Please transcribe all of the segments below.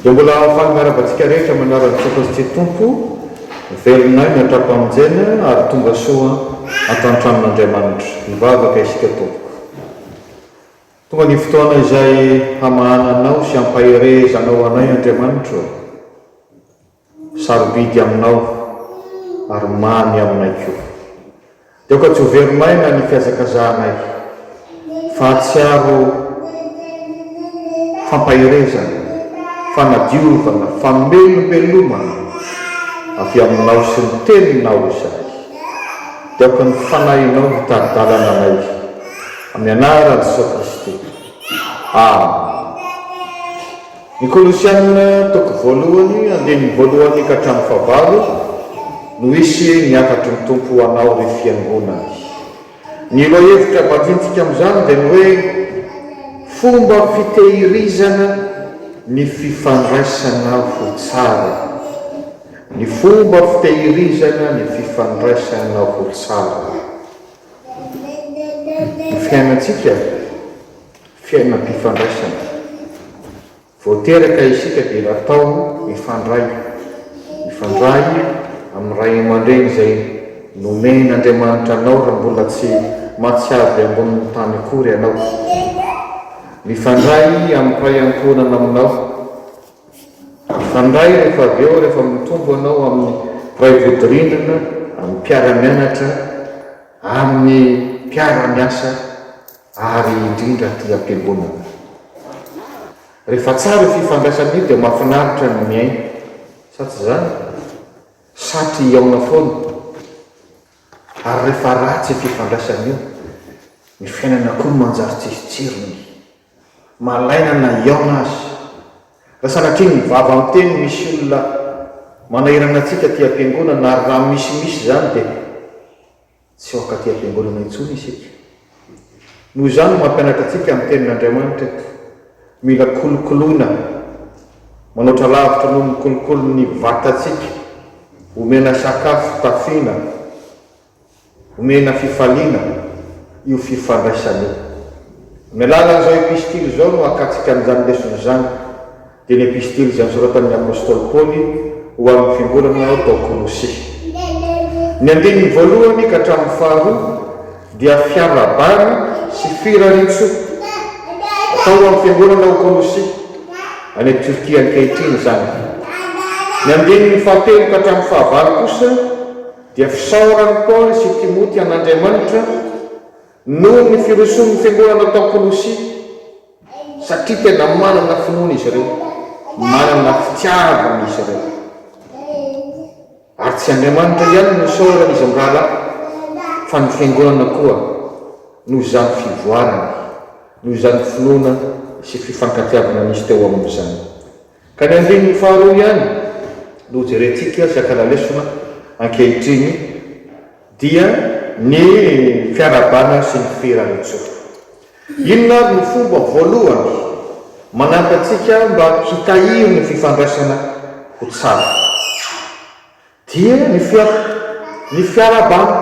Dia mbola hahafaly miaraka antsika rehetra manaraka Jesosy Tsy Tompo, velonay ny hatrapamonjena ary tonga soa ato an-tranon'Andriamanitra. Mivavaka isika tompoko. Tonga ny fotoana izay hamahana anao sy hampaherezanao anay Andriamanitro ô! Sarobidy aminao ary mamy aminay koa. Dia aoka tsy ho very maina ny fihazakazahanay, fa hahatsiaro fampaherezana, fanadiovana, famelombelomana avy aminao sy ny Teninao izahay. Dia aoka ny Fanahinao hitari-dalana anay. Amin'ny anaran'i Jesoa Kristy. Amena. Ny Kolosiana, toko voalohany, andininy voalohany ka hatramin'ny fahavalo, no hisy ny hafatry ny Tompo ho anao, ry Fiangonany. Ny lohahevitra valintsika amin'izany dia ny hoe, Fomba fitehirizana ny fifandraisana ho tsara. Ny fomba fitehirizana ny fifandraisana ho tsara. Ny fiainantsika, fiainam-pifandraisana. Vao teraka isika dia natao hifandray. Mifandray amin'ny ray aman-dreny izay nomen'Andriamanitra anao raha mbola tsy mahatsiaro ambonin'ny tany akory ianao. Mifandray amin'ny ray ankohonana aminao. Mifandray rehefa avy eo rehefa mitombo anao amin'ny mpiray vodirindrina, amin'ny mpiara-mianatra, amin'ny mpiara-miasa ary indrindra aty am-piangonana. Rehefa tsara io fifandraisana io dia mahafinaritra ny miaina, sa tsy izany? Satry hihaona foana. Ary rehefa ratsy io fifandraisana io, ny fiainana koa no manjary tsisy tsirony. Malaina na hihaona aza. Raha sanatria ny vava miteny misy olona manahirana antsika aty am-piangonana ary raha misy misy izany dia tsy ho ankaty am-piangonana intsony isika. Noho izany no mampianatra antsika ny Tenin'Andriamanitra eto. Mila kolokoloina manoatra lavitra noho ny kolokolo ny vatantsika, omena sakafo, tafiana, Omena fifaliana io fifandraisana io. Amin'ny alalan'izao epistily izao no hakatsika an'izany lesona izany, dia ny epistily izay nosoratan'ny apostoly Paoly ho amin'ny fiangonana tao Kolosy. Ny andininy voalohany ka hatramin'ny faharoa dia fiarahabana sy firarian-tsoa atao ho amin'ny fiangonana ao Kolosy, any Turquie ankehitriny izany. Ny andininy fahatelo ka hatramin'ny fahavalo kosa, Dia fisaoran'i Paoly sy Timoty an'Andriamanitra noho ny firosoan'ny fiangonana tao Kolosia, satria tena manana finoana izy ireo, manana fitiavana izy ireo. Ary tsy Andriamanitra ihany no isaorana izy mirahalahy, fa ny fiangonana koa, noho izany fivoarana, noho izany finoana sy fifankatiavana nisy teo amin'izany. Ka ny andininy faharoa ihany no hojerentsika sy hakana lesona ankehitriny dia ny fiarahabana sy ny fihiran'Ijehovah. Inona ary no fomba voalohany manampy antsika mba hitahiry ny fifandraisana ho tsara? Dia ny fiara, ny fiarahabana.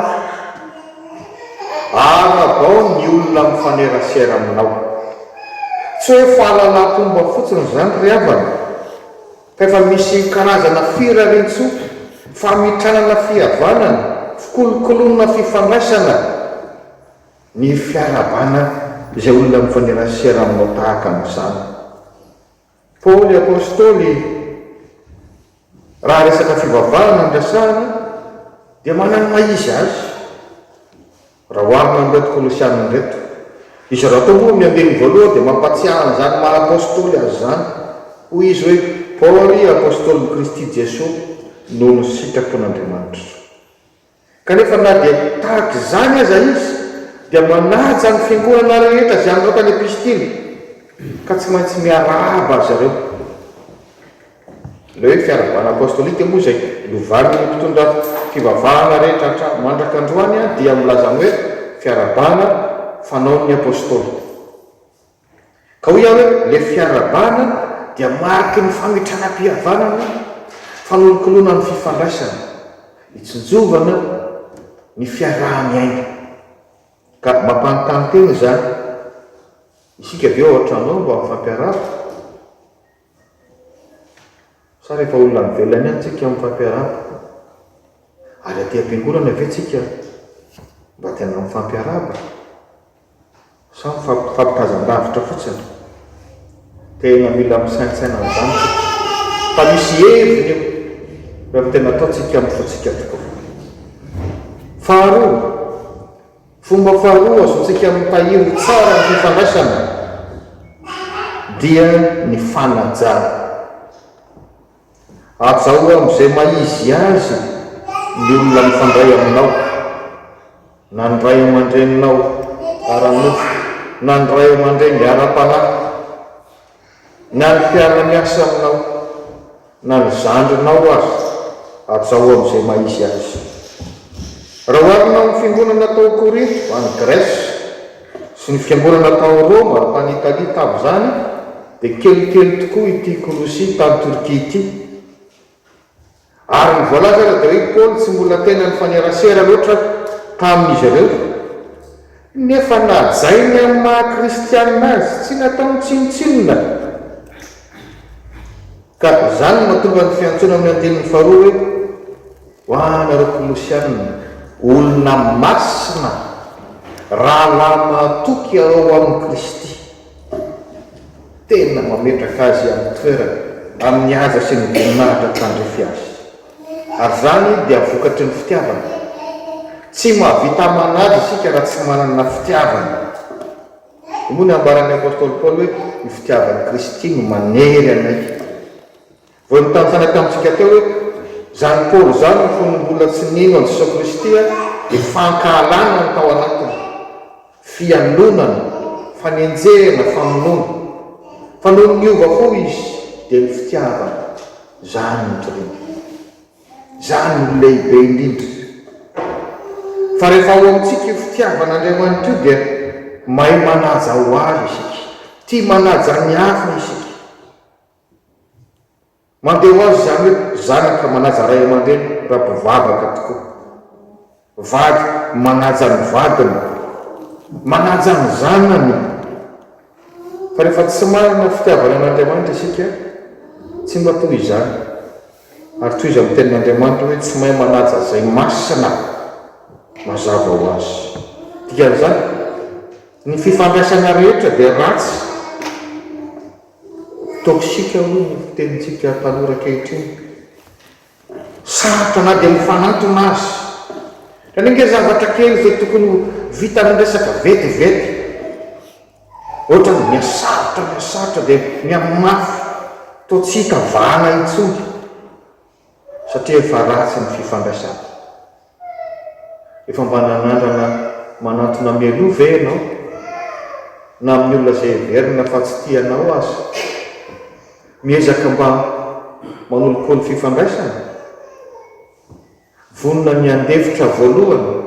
Arabao ny olona mifanerasera aminao. Tsy hoe fahalalam-pomba fotsiny izany ry havana, fa efa misy karazana firariantsoa, famitranana fihavanana, fikolokoloana fifandraisana ny fiarahabana izay olona mifanerasera aminao tahaka an'izany. Paoly Apostoly, raha resaka fivavahana no resahina, dia manana ny maha izy azy, raha oharina amin'ireto Kolosiana ireto. Izy ireo rahateo moa amin'ny andininy voalohany dia mampahatsiahy an'izany maha Apostoly azy izany. Hoy izy hoe, Paoly, Apostolin'i Kristy Jesoa, noho ny sitrapon'Andriamanitra. Kanefa na dia tahaka izany aza izy dia manaja ny fiangonana rehetra izay andao tany am-pisidiana ka tsy maintsy miarahaba azy ireo. Ilay hoe fiarahabana apostolika moa izay novan'ny mpitondra fivavahana rehetra hatramin'ny mandraka androany dia milaza ny hoe fiarahabana fanaon'ny apostoly. Ka hoy aho hoe ilay fiarahabana dia mariky ny famitranam-pihavanana, fanolokoloana ny fifandraisana, hitsinjovana ny fiaraha-miaina. Ka mampanontany tena izany, isika ve ao an-tranonao mba mifampiarahaba? Sa rehefa olona any ivelany any tsika mifampiarahaba? Ary aty am-piangorana ve tsika mba tena mifampiarahaba? Sa mifampitazan-davitra fotsiny? Tena mila misaintsaina an'izany tsika fa misy heviny io rehefa tena ataontsika amin'ny fontsika tokoa. Faharoa, Fomba faharoa azontsika mitahiry tsara ny fifandraisana dia ny fanajana. Hajao amin'izay maha-izy azy ny olona mifandray aminao, na ny ray aman-dreninao ara-nofo, na ny ray aman-dreny ara-panahy. Na ny fiara-miasa aminao, na ny zandrinao aza, ajao amin'izay maha-izy azy. Raha oharina amin'ny fiangonana tao Korinto, any Grèce, sy ny fiangonana tao Roma, tany Italie, tamin'izany, dia kelikely tokoa ity Kolosia, tany Turquie, ity. Ary ny voalazana dia hoe i Paoly tsy mbola tena nifanerasera loatra tamin'izy ireo. Nefa najainy amin'ny maha-kristianina azy, tsy nataony tsinontsinona. Ka izany no mahatonga ny fiantsoana amin'ny andininy faharoa hoe, Ho anareo Kolosianina, olona masina, rahalahy mahatoky ao amin'i Kristy. Tena mametraka azy amin'ny toerany, amin'ny haja sy ny voninahitra tandrify azy. Ary izany dia vokatry ny fitiavana. Tsy mahavita manaja isika raha tsy manana fitiavana. Hoy moa ny ambaran'ny apostoly Paoly hoe, Ny fitiavan'i Kristy no manery anay. Vao nitantara tamintsika teo hoe izany Paoly izany no fony mbola tsy nino an'i Jesoa Kristy dia fankahalana no tao anatiny, fialonana, fanenjehana, famonoana. Fa nony niova fo izy dia ny fitiavana. Izany no nitoriany. Izany no lehibe indrindra. Fa rehefa ao amintsika io fitiavan'Andriamanitra io dia mahay manaja ho avy isika, tia manaja ny hafa isika. Mandeha ho azy izany hoe zanaka manaja ray aman-dreny raha mpivavaka tokoa. Vady manaja ny vadiny, manaja ny zanany. Fa rehefa tsy manana fitiavana an'Andriamanitra isika, tsy mba toy izany. Ary tohizo amin'ny Tenin'Andriamanitra hoe tsy mahay manaja izay masina mazava ho azy. Dikan'izany, ny fifandraisana rehetra dia ratsy. Toxique hoy ny fitenintsika tanora ankehitriny. Sarotra na dia mifanantona aza. Anie nge zavatra kely izay tokony ho vita ny resaka vetivety. Ohatrany mihasarotra mihasarotra dia mihamafy toa tsy hita vahana intsony. satria efa ratsy ny fifandraisana. Efa mba nanandrana manantona mialoha ve ianao? Na amin'ny olona izay heverina fa tsy tia anao aza? Miezaka mba manolokolo fifandraisana? Vonona ny handefitra voalohany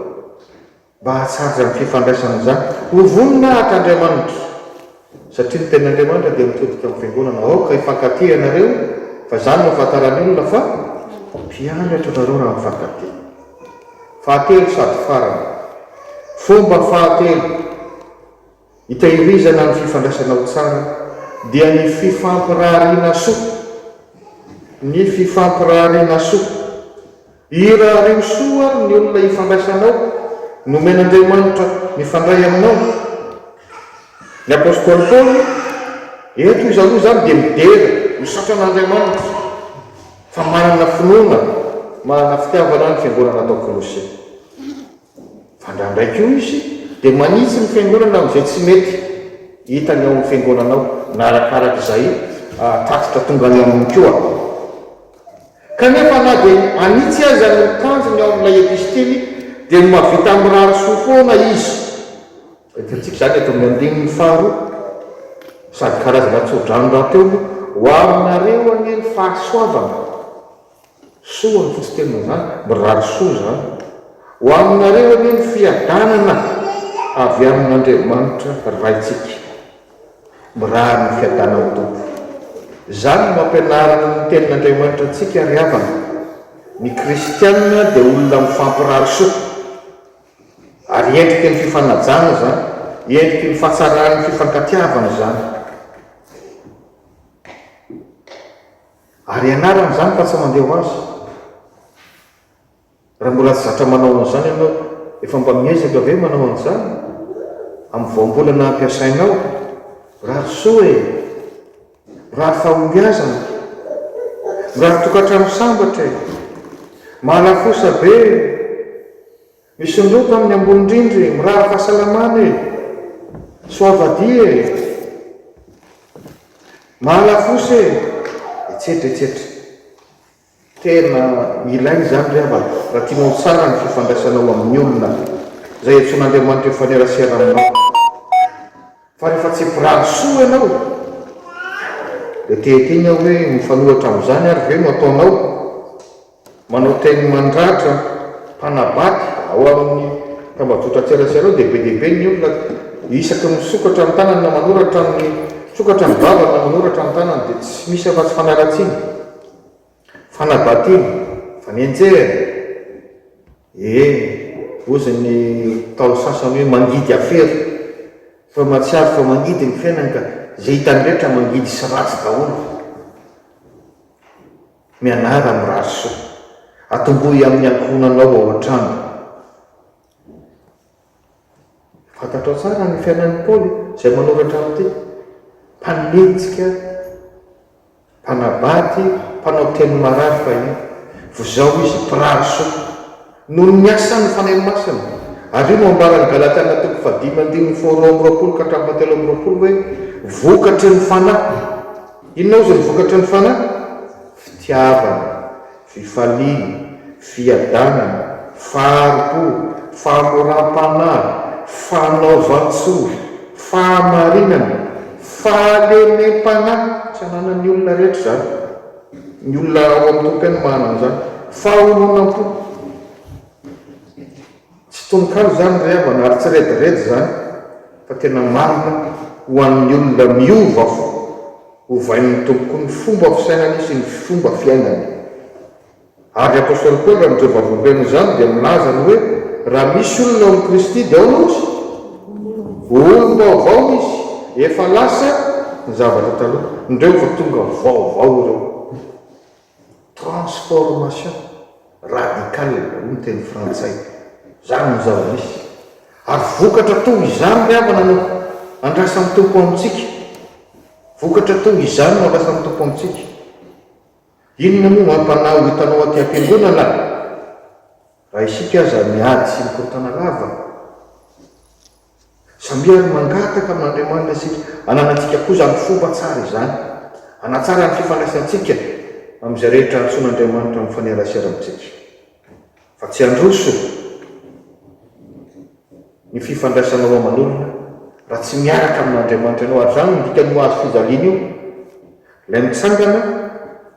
Mba hahatsara ny fifandraisana amin'izany, ho vonona haka Andriamanitra, satria ny Tenin'Andriamanitra dia mitodika amin'ny Fiangonana. Aoka hifankatia ianareo, fa izany no ahafantaran'ny olona fa mpianatra ianareo raha mifankatia. Fahatelo sady farany, fomba fahatelo. Hitahirizana ny fifandraisana ho tsara dia ny fifampirahariana soa, ny fifampirahariana soa. Irahariho soa ary ny olona ifandraisanao, nomen'Andriamanitra mifandray aminao. Ny apostoly Paoly, Eto izaho izany dia midera, misaotra an'Andriamanitra fa manana finoana manana fitiavana ny fiangonana tao Kolose. Fa ndra ndray koa izy dia manitsy ny fiangonana amin'izay tsy mety hitany ao amin'ny fiangonana ao, na arakaraka izay tatitra tonga any aminy koa. Kanefa na dia hanitsy aza ny tanjony ao amin'ilay epistily dia ny mahavita mirary soa foana izy. Entintsika izany eto amin'ny andininy faharoa, sady karazana tsodrano rahateo moa, Ho aminareo anie ny fahasoavana. Soa fa tsy tena izany, mirary soa izany ho aminareo anie ny fiadanana avy amin'Andriamanitra Raintsika. Mirary ny fiadanan'ny Tompo. Izany no ampianarin'ny Tenin'Andriamanitra antsika ry havana, ny kristiana dia olona mifampirary soa. Ary endriky ny fifanajana izany, endriky ny fahatsaran'ny fifankatiavana izany. Ary ianarana izany fa tsy mandeha ho azy. Raha mbola tsy zatra manao an'izany ianao, efa mba miezaka ve manao an'izany amin'ny voambolana ampiasainao? Mirary soa e! Mirary fahombiazana! Mirary tokantrano sambatra e! Mahalafosa be e! Misondrota amin'ny ambony rindra e! Mirary fahasalamana e! Soavadia e! Mahalafosa e! Etsetra etsetra. Tena ilaina izany ry havana raha tianao ho tsara ny fifandraisanao amin'ny olona izay iantsoan'Andriamanitra hifanerasera aminao. Fa rehefa tsy mpirary soa ianao dia te-hiteny aho hoe mifanohitra amin'izany ary ve no ataonao? Manao teny mandratra, mpanabady ao amin'ny tambajotran-tserasera ao dia be dia be ny olona isaky ny misokatra ny tanany na manoratra amin'ny, misokatra ny vavany na manoratra ny tanany dia tsy misy afa-tsy fanaratsiana, fanabadiana, fanenjehana. Ee, hozy ny Ntaolo sasany hoe mangidy afera, fa mahatsiaro fa mangidy ny fiainany ka izay hitany rehetra mangidy sy ratsy daholo. Mianara mirary soa. Atombohy amin'ny ankohonanao ao an-trano. Fantatrao tsara ny fiainan'i Paoly izay manoratra amin'ity. Mpanenjika, mpanabady, mpanao teny marary fahiny. Vozao izy, mpirary soa. Noho ny asa ny Fanahy Masina. Avy eo no ambaran'ny Galatiana toko fahadimy andininy faha roa amby roapolo ka hatramin'ny fahatelo amby roapolo hoe, Vokatry ny Fanahy. Inona hozy ny vokatry ny Fanahy? Fitiavana, fifaliana, fiadanana, fahari-po, fahamoram-panahy, fanaovan-tsoa, fahamarinana, fahalemem-panahy. Tsy ananan'ny olona rehetra izany. Ny olona ao amin'ny tompony no manana an'izany. Fahononam-po. Tsy tononkalo izany ry havana ary tsy rediredy izany fa tena marina ho an'ny olona miova fo. Ovain'ny Tompo koa ny fomba fisainany sy ny fomba fiainany. Ary Apostoly Paoly amin'izao vavolombelona izany dia milaza ny hoe raha misy olona ao amin'i Kristy dia aona ozy? Ho olom-baovao izy, efa lasa ny zavatra taloha, indreo efa tonga vaovao ireo. Transformation radicale hoy ny teny frantsay, izany no zava-misy. Ary vokatra toa izany ry havana no andrasan'ny Tompo amintsika, vokatra toa izany no andrasan'ny Tompo amintsika. Inona moa no hampanahy ho hitanao aty am-piangonana? Raha isika aza miady sy mikorontana lava. Samia ary mangataka amin'Andriamanitra isika hananantsika koa izany fomba tsara izany, hanatsara ny fifandraisantsika amin'izay rehetra antsoin'Andriamanitra amin'ny fanerasera amintsika. fa tsy handroso ny fifandraisanao aman'olona raha tsy miaraka amin'Andriamanitra ianao, ary izany no dikan'io hazo fijaliana io, ilay mitsangana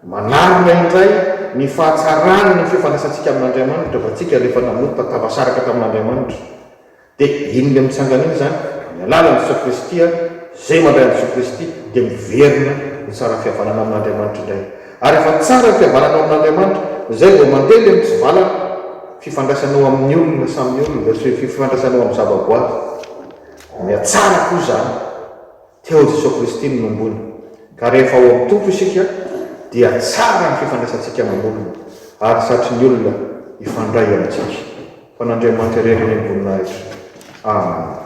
manarona indray ny fahatsarany ny fifandraisantsika amin'Andriamanitra, fa tsika ilay efa nanompa tafasaraka tamin'Andriamanitra, Dia iny le mitsangana iny zany amin'ny alalan'i Jesoa Kristy ary zay mandray an'i Jesoa Kristy dia miverina ny tsaran'ny fihavanana amin'Andriamanitra indray ary rehefa tsara ny fihavanana ao amin'Andriamanitra zay vao mandeha le mitsivalana fifandraisanao amin'ny olona samy olona sy fifandraisanao amin'ny zavaboary mihatsara koa zany Teo amin'i Jesoa Kristy no nombony, ka rehefa ao amin'ny Tompo isika dia tsara ny fifandraisantsika amam-bolona ary satry ny olona hifandray amintsika. Fa an'Andriamanitra irery anie ny voninahitra. Amen.